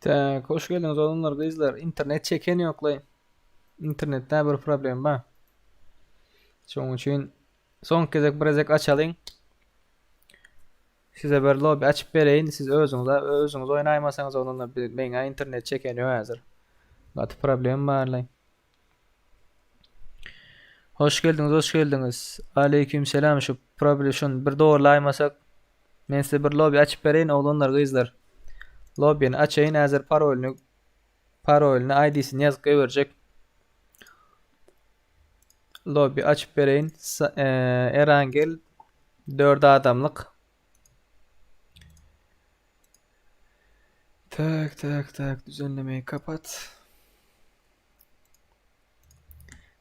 Tak, hoş geldiniz oğlanlar, kızlar. İnternet çeken yoklay. İnternette bir problem var. Şoň üçin soň gezek bir gezek açalyň. Size bir lobby açyp bereýin. Siz özüňize özüňiz oýnaýmasaňyz oglanda meňä internet çeken ýok häzir. Gaty problem barly. Hoş geldiňiz, hoş geldiňiz. Aleyküm selam şu probluşun bir dogurlaymasak. Men size bir lobby açyp bereýin oglanlar, gyzlar. Lobbyny açaýyn häzir parolyny parolyny ID'sini ýazyp goýberjek. Lobby açyp bereýin. Eee, Erangel 4 adamlyk. Tak tak tak düzenlemeyi kapat.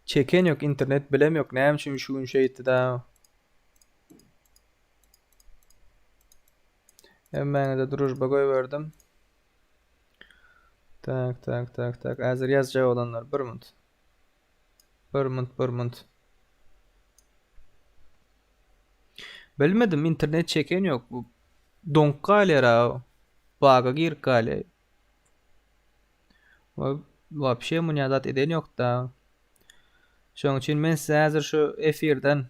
Çeken yok internet bilem yok. Näme üçin şu gün şeýtdi da. Hemmäňize drujba goýberdim. Tak tak tak tak. Häzir ýazjak olanlar bir minut. Bir munt, bir munt. Bilmedim, internet çeken yok. Bu donk galýar ha. Baga girip galýar. Wa wapşe munýadat eden yok da. Şoň üçin men size häzir şu efirden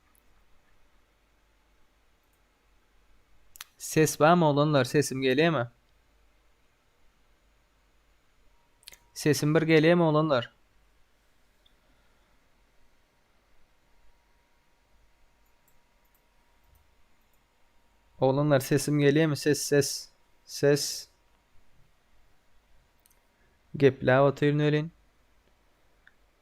Ses bamy oglanlar sesim gelýämi? Sesim bir gelýämi oglanlar? Oglanlar sesim gelýämi? Ses ses ses. Gepläp otyryn welin.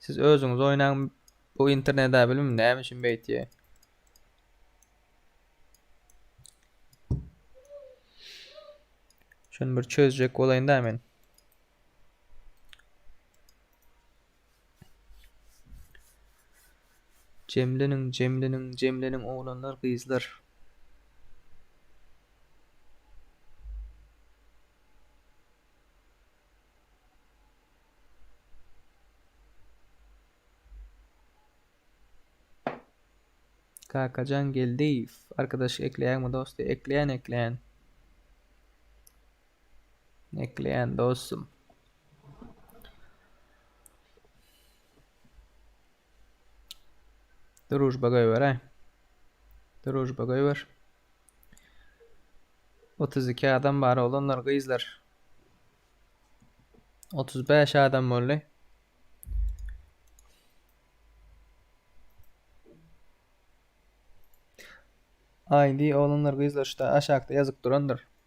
Siz özüňiz oýnaň bu interneda bilim näme üçin beýtýär. Şunu bir çözjek bolaýyn da men. Cemlenin, cemlenin, cemlenin oglanlar, gyzlar. Kakajan Geldiýew. Arkadaşlyk ekleýäňmi dosty? Ekleýän, ekleýän. Ekleýän dostum. Drujba goýberäý. Drujba goýber. 32 adam bar oglanlar gyzlar. 35 adam boldy. ID oglanlar gyzlar şuda aşakda ýazyp durandyr.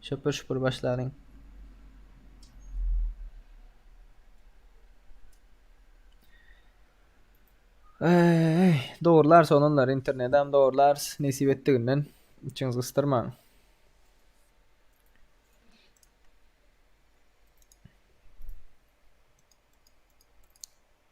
Şopur şopur başlaryň. Eee, dogrular sonunlar internetden dogrular nesip etdiginden içiňiz gysdyrmaň.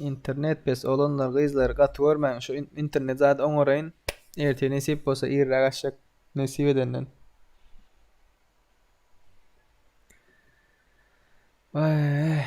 Internet pes olanlar gyzlary gaty görmäň şu internet zady oňaraýyn. Ertir nesip bolsa irräk açjak nesip edenden. Ay.